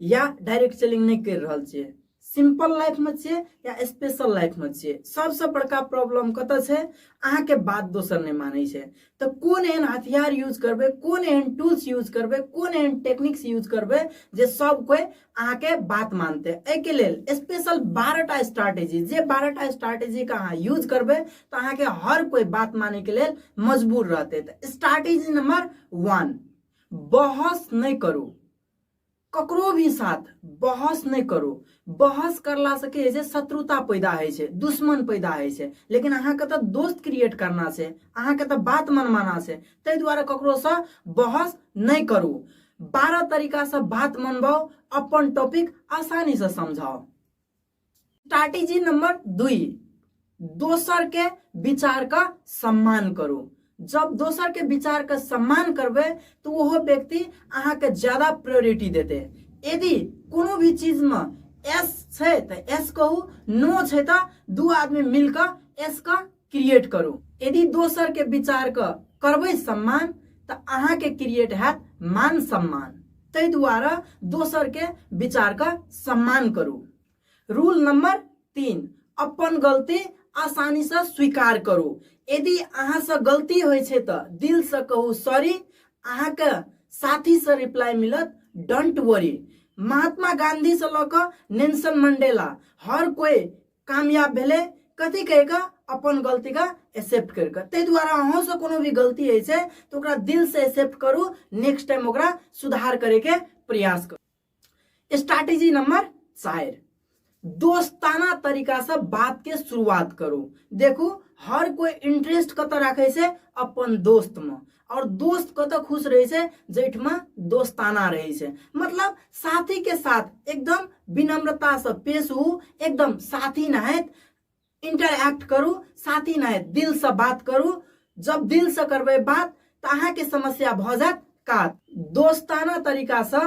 या direct selling नहीं कर रहा छे सिंपल लाइफ में छे या स्पेशल लाइफ में छे सबसे बड़का प्रॉब्लम कत छे अहा के बात दोसर नहीं माने छे तो कौन एहन हथियार यूज करबे कौन एहन टूल्स यूज करबे कौन एहन टेक्निक्स यूज करबे जे सब कोई अहा के बात मानते ए के लेल स्पेशल 12 टा स्ट्रेटजी जे 12 टा स्ट्रेटजी का अहा यूज करबे तो अहा के हर कोई बात माने के लेल मजबूर रहते तो स्ट्रेटजी नंबर 1 बहस नहीं करू ककरो भी साथ बहस नहि करू बहस करलासँ की होइ छै शत्रुता पैदा होइ छै दुश्मन पैदा होइ छै लेकिन अहाँके तऽ दोस्त क्रिएट करना छै अहाँके तऽ बात मनमाना छै ताहि दुआरे ककरोसँ बहस नहि करू बारह तरीकासँ बात मनबाउ अपन टॉपिक आसानीसँ समझाउ स्ट्रैटेजी नंबर दुई दोसर के विचार का सम्मान करू जब दोसर के विचार का सम्मान करबे तो वह व्यक्ति अहाँ के ज्यादा प्रायोरिटी देते यदि कोनो भी चीज में एस छै तो एस कहू नो छै तो दू आदमी मिलकर एस का क्रिएट करू यदि दोसर के विचार के करबै सम्मान तऽ अहाँ के क्रिएट हैत मान सम्मान ताहि दुआरे दोसर के विचार के सम्मान करू रूल नंबर तीन अपन गलती आसानी से स्वीकार करू यदि अहाँ से गलती होइ छै तऽ दिल से कहू सॉरी अहाँ के साथी से रिप्लाई मिलत डोंट वरी महात्मा गांधी से लऽ कऽ नेल्सन मंडेला हर कोई कामयाब भेलै कथी कहि कऽ अपन गलतीके एक्सेप्ट करि कऽ ताहि दुआरे अहूँसँ कोनो भी गलती होइ छै तऽ ओकरा दिलसँ एक्सेप्ट करू नेक्स्ट टाइम ओकरा सुधार करैके प्रयास करू स्ट्रैटेजी नंबर चारि दोस्ताना तरीकासँ बातके शुरुआत करू देखू हर कोइ इंटरेस्ट कतऽ राखै छै अपन दोस्तमे और दोस्त कत खुश रहे से जैठमा दोस्ताना रहे से मतलब साथी के साथ एकदम विनम्रता से पेश हो एकदम साथी नहत इंटरैक्ट करू साथी नहत दिल से बात करू जब दिल से करबे बात तो अहा के समस्या भ जात का दोस्ताना तरीका से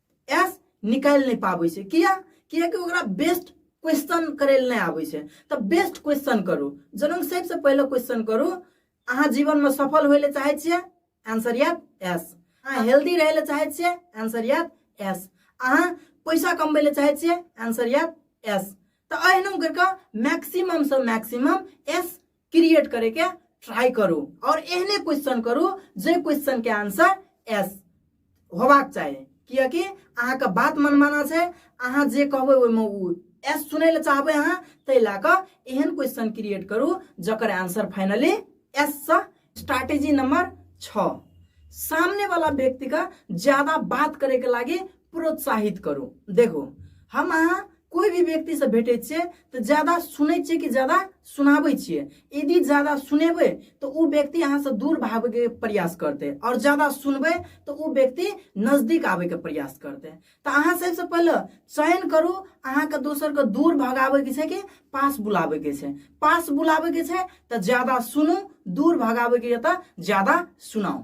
एस निकालि नहि पाबै छै किया कियाकि ओकरा बेस्ट क्वेश्चन करै लए नहि आबै छै तऽ बेस्ट क्वेश्चन करू जनम सबसँ पहिले क्वेश्चन करू अहाँ जीवनमे सफल होइ लए चाहै छियै आंसर याद एस अहाँ हेल्दी रहै लए चाहै छियै आंसर याद एस अहाँ पैसा कमबै लए चाहै छियै आंसर याद एस तऽ एहनो करिकऽ मैक्सिममसँ मैक्सिमम एस क्रिएट करे के ट्राई करू और एहने क्वेश्चन करू जे क्वेश्चन के आंसर एस होबाक चाही कियकि अहाँके बात मनमाना छै अहाँ जे कहबै ओहिमे ओ एस सुनै लए चाहबै अहाँ ताहि लए कऽ एहन क्वेश्चन क्रिएट करू जकर आंसर फाइनली एस सँ स्ट्रैटेजी नंबर छः सामने वाला व्यक्ति का ज्यादा बात करे के लागे प्रोत्साहित करू देखू हम अहाँ कोई भी व्यक्ति से भेटे छियै तऽ ज्यादा सुनै छियै कि ज्यादा सुनाबै छियै यदि ज्यादा सुनेबै तऽ ओ व्यक्ति अहाँसँ दूर भागैके प्रयास करतै आओर ज्यादा सुनबै तऽ ओ व्यक्ति नजदीक आबैके प्रयास करतै तऽ अहाँ सबसँ पहिले चयन करू अहाँके दोसरके दूर भगाबैके छै कि पास बुलाबैके छै पास बुलाबैके छै तऽ ज्यादा सुनू दूर भगाबैके यऽ तऽ ज्यादा सुनाउ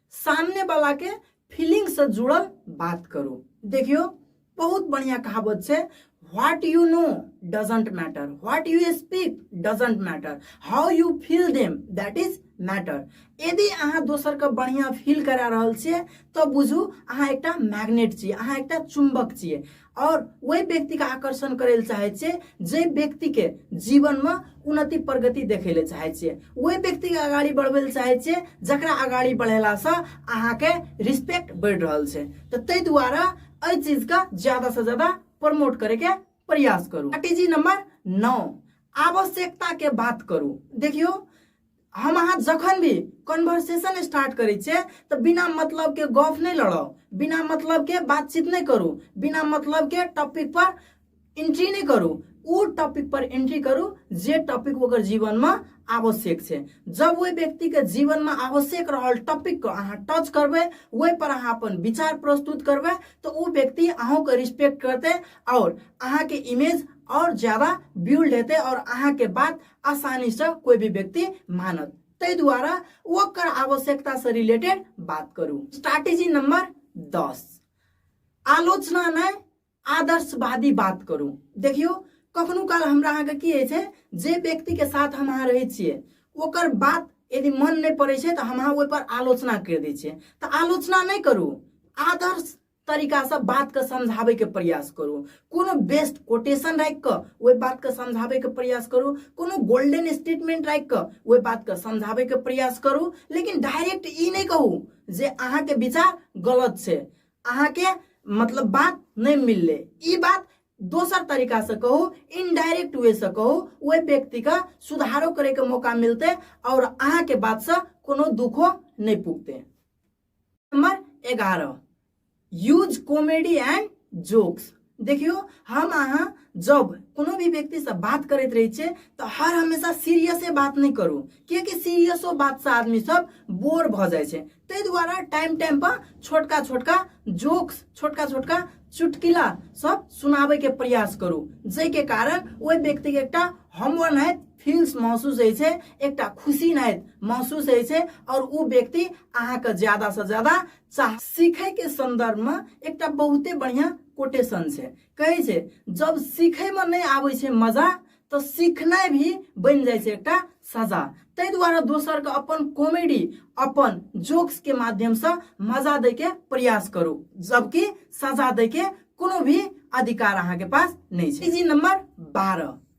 सामने वाला के फीलिंग से जुड़ल बात करू देखियो बहुत बढ़िया कहावत से what you know doesn't matter what you speak doesn't matter how you feel them that is matter यदि अहाँ दोसर के बढ़िया फील करा रहल छियै तब बुझू अहाँ एकटा मैग्नेट छियै अहाँ एकटा चुंबक छियै आओर ओहि व्यक्तिके आकर्षण करै लए चाहै छियै जाहि व्यक्तिके जीवनमे उन्नति प्रगति देखै लए चाहै छियै ओहि व्यक्तिके अगाडि बढ़बै लए चाहै छियै जकरा अगाडि बढ़ेलासँ अहाँके रिस्पेक्ट बढ़ि रहल छै तऽ ताहि दुआरे एहि चीजके ज्यादासँ ज्यादा प्रमोट करैके प्रयास करू स्ट्रेटेजी नंबर नौ आवश्यकता के बात करू देखियो हम अहाँ जखन भी कन्वर्सेशन स्टार्ट करै छियै तऽ बिना मतलब के गप नहि लड़ाउ बिना मतलब के बातचीत नहि करू बिना मतलब के टॉपिक पर एंट्री नहि करू ओ टॉपिक पर एंट्री करू जे टॉपिक ओकर जीवन में आवश्यक छै जब ओहि व्यक्ति के जीवन में आवश्यक रहल टॉपिक को अहाँ टच करबै ओहि पर अहाँ अपन विचार प्रस्तुत करबै तऽ ओ व्यक्ति अहूँ के रिस्पेक्ट करते और अहाँ के इमेज और ज्यादा बिल्ड हेतै और अहाँ के बात आसानी से कोई भी व्यक्ति मानत ताहि द्वारा ओकर आवश्यकता से रिलेटेड बात करू स्ट्रैटेजी नंबर दस आलोचना नहि आदर्शवादी बात करू देखियो कखनो काल हमरा अहाँके की होइ छै जे व्यक्तिके साथ हम अहाँ रहै छियै ओकर बात यदि मन नहि पड़ै छै तऽ हम अहाँ ओहिपर आलोचना करि दै छियै तऽ आलोचना नहि करू आदर्श तरीकासँ बातके समझाबैके प्रयास करू कोनो बेस्ट कोटेशन राखि कऽ ओहि बातके समझाबैके प्रयास करू कोनो गोल्डन स्टेटमेंट राखि कऽ ओहि बातके समझाबैके प्रयास करू लेकिन डायरेक्ट ई नहि कहू जे अहाँके विचार गलत छै अहाँके मतलब बात नहि मिललै ई बात दोसर तरीकासँ कहू इनडायरेक्ट वेसँ कहू ओहि व्यक्तिके सुधारो करैके मौका मिलतै आओर अहाँके बातसँ कोनो दुखो नहि पुगतै नंबर एगारह यूज कॉमेडी एंड जोक्स देखियो हम अहाँ जब कोनो भी व्यक्ति से बात करैत रहे छे तो हर हमेशा सीरियसे बात नहीं करू कियाकि सीरियसो बात से आदमी सब बोर भ जाए छे ताहि दुआरे टाइम टाइम पर छोटका छोटका जोक्स छोटका छोटका चुटकिला सब सुनाबे के प्रयास करू जाहि के कारण ओहि व्यक्ति के एकटा हमवन है फील्स महसूस होइ छै एकटा खुशी नहि महसूस होइ छै आओर ओ व्यक्ति अहाँके ज्यादासँ ज्यादा चाह सीखैके सन्दर्भमे एकटा बहुते बढ़िआँ कोटेशन छै कहै छै जब सीखैमे नहि आबै छै मजा तऽ सीखनाइ भी बनि जाइ छै एकटा सजा ताहि दुआरे दोसरके अपन कॉमेडी अपन जोक्सके माध्यमसँ मजा दैके प्रयास करू जबकि सजा दैके कोनो भी अधिकार अहाँके पास नहि छै जी नम्बर बारह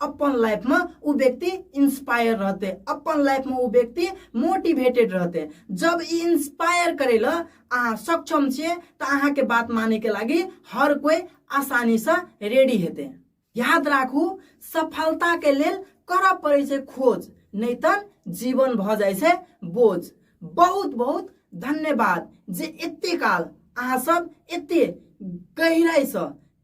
अपन लाइफमे ओ व्यक्ति इंस्पायर रहते अपन लाइफमे ओ व्यक्ति मोटिवेटेड रहते जब ई इंस्पायर करे ल अहाँ सक्षम छियै तऽ अहाँके बात मानैके लागि हर कोइ आसानीसँ रेडी हेतै याद राखू सफलताके लेल करऽ पड़ै छै खोज नहि तऽ जीवन भऽ जाइ छै बोझ बहुत बहुत धन्यवाद जे एते काल अहाँ सब एते गहिराइसँ